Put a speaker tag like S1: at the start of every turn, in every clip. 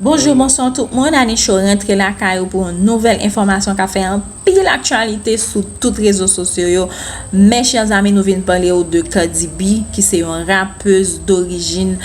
S1: Bonjou bonswa tout moun ane cho rentre lakay ou pou yon nouvel enfòmasyon ka fè an pil aktyalite sou tout rezo sosyo yo mè chè zami nou vin pale ou de kadibi ki se yon rapez dorijin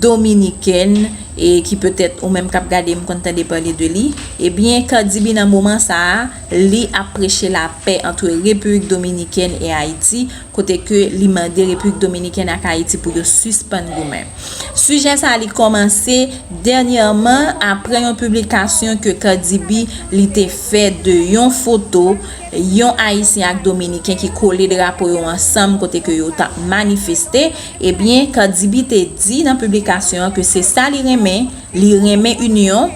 S1: dominikèn e ki petèt ou menm kap gade m konn tande pale de li ebyen kadibi nan moman sa a. Li ap preche lapè antre Repiblik Dominikèn e Ayiti, kote ke li mande Repiblik Dominikèn ak Ayiti pou yo sispann goumen. Sijè sa li kòmanse dènyèman apre yon piblikasyon ke Cardi B li te fè de yon foto yon Ayisyen ak Dominiken ki kole drapo yo ansanm kote ke yo tap manifeste, ebyen Cardi B te di nan piblikasyon an ke se sa li renmen, li renmen inyon.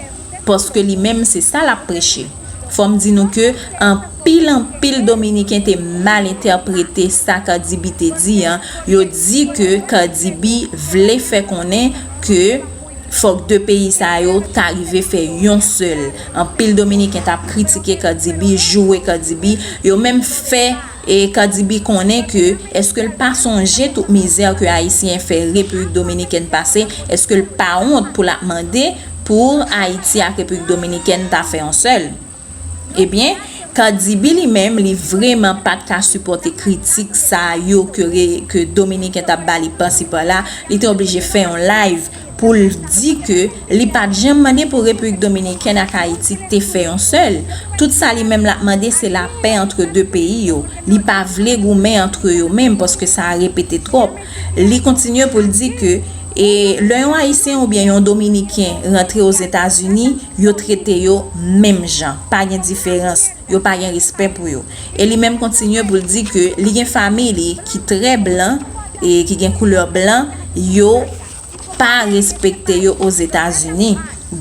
S1: Paske li menm se sa lap preche. Fò m di nou ke anpil anpil dominiken te mal entèprete sa Cardi B te di an, yo di ke Cardi B vle fè konnen ke fòk 2 peyi sa yo ta rive fè yon sèl. Anpil dominiken tap kritike Cardi B, joure Cardi B, yo menm fè. E Cardi B konnen ke eske l pa sonje tout mizè ke Ayisyen fè Repiblik Dominikèn pase, eske l pa wont pou l ap mande pou Ayiti ak Repiblik Dominikèn ta fè yon sèl? Ebyen, Cardi B li menm li vreman pa t ka sipòte kritik sa yo ke Dominiken t ap ba li pasi pala, li te oblije fè yon live pou l di ke li pa t janm mande pou Repiblik Dominikèn ak Ayiti te fè yon sèl, tout sa li menm l ap mande se lapè antre 2 peyi yo, li pa vle goumen antre yo menm paske sa a repete twòp. Li kontinye pou l di ke e lè yon Ayisyen oubyen yon Dominiken rantre Ozetazini, yo trete yo menm jan, pa gen diferans, yo pa gen respè pou yo. E li menm kontinye pou l di ke li gen fanmi li ki trè blan, ki gen koulè blan, yo. pa respekte yo Ozetazini.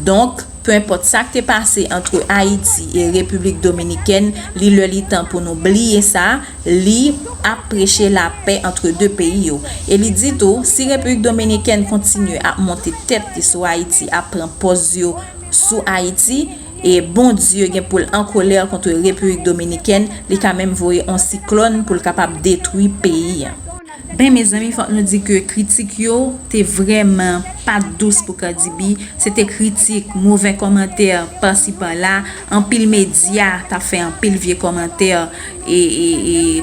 S1: Donk, penpòt sa k te pase antre Ayiti e Repiblik Dominikèn, li lè li tan pou nou bliye sa, li ap preche lapè antre 2 peyi yo. E li di tou, si Repiblik Dominikèn kontinye ap monte tèt li sou Ayiti, ap pran pòz yo sou Ayiti, e Bondye gen pou l an kolè kontre Repiblik Dominikèn, li ka menm voye on siklòn pou l kapab detwi peyi a. Ben mezanmi fòk nou di ke kritik yo te vrèman pat dous pou Cardibi, se te kritik, movè kòmantè pasi pala, anpil medya tap fè anpil vye kòmantè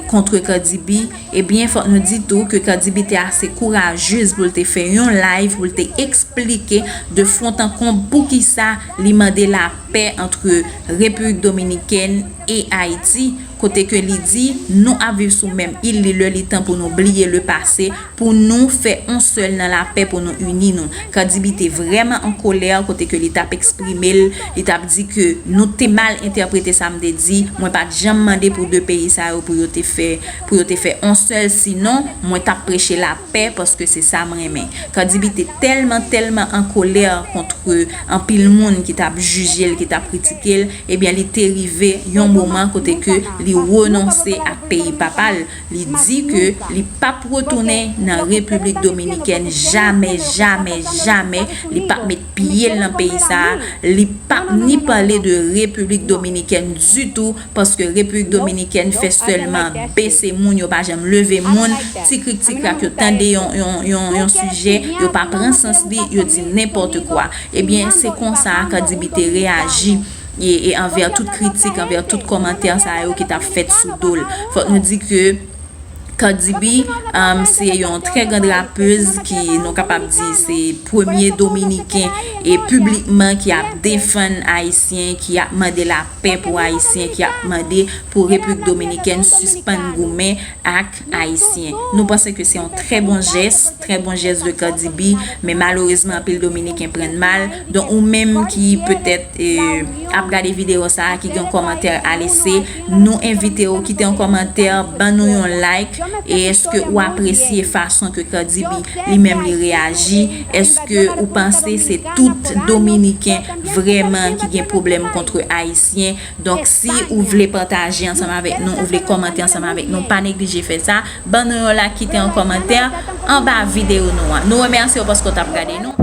S1: kontre Cardibi, ebyen fòk nou di tou ke Cardibi te ase kourajez pou l te fè yon live pou l te eksplike de fwont an konb poukisa li mande lapè antre Repiblik Dominikèn e Ayiti. kote ke li di nou ap viv sou menm il li lè li tan pou nou bliye le pase pou nou fè on sèl nan lapè pou nou ini nou Cardi B te vrèman an kolè kote ke li tap eksprime l li tap di ke nou te mal entèprete sa m te di mwen pat janm mande pou 2 peyi sa yo pou yo te fè pou yo te fè on sèl sinon mwen tap preche lapè paske se sa m renmen Cardi B te tèlman tèlman an kolè kontre anpil moun ki tap jije l ki tap kritike l Ebyen li te rive yon moman kote ke li renonse ak peyi papa l, li di ke li pap retounen nan Repiblik Dominikèn jamè, jamè, jamè, li pap met pye l nan peyi sa a, li pap ni pale de Repiblik Dominikèn ditou, paske Repiblik Dominikèn fè sèlman bese moun, yo pa janm leve moun, ti krik ti krak yo tande yon sijè, yo pa pran sans li, yo di nenpòtekwa. Ebyen se konsa Cardibi te reyaji anvè tout kritik, anvè tout kòmantè sa yo ki tap fèt sou do l. Fòk nou di ke Cardibi se yon trè grand rapez ki nou kapab di se premye dominiken piblikman ki ap defann ayisyen, ki ap mande lapè pou ayisyen, ki ap mande pou repiblik dominikèn sispann goumen ak. Ayisyen. Nou panse ke se yon trè bon jès, trè bon jès de Cardibi, men malerezman anpil Dominiken prann mal. Donk ou menm ki petèt ap gade videyo sa a, ki gen yon kòmantè a lese, nou envite ou kite yon kòmantè, ban nou yon like, e eske ou apresye fason ke Cardibi li menm li reyaji, eske ou panse se tout Dominiken vrèman ki gen pwoblèm kontre Ayisyen, Donk si ou vle pataje ansanm avèk nou, ou vle kòmante ansanm avèk nou, pa neglije fè sa. Ban nou yon like, kite yon kòmantè anba videyo nou an. Nou remèsye w paske w t ap gade nou.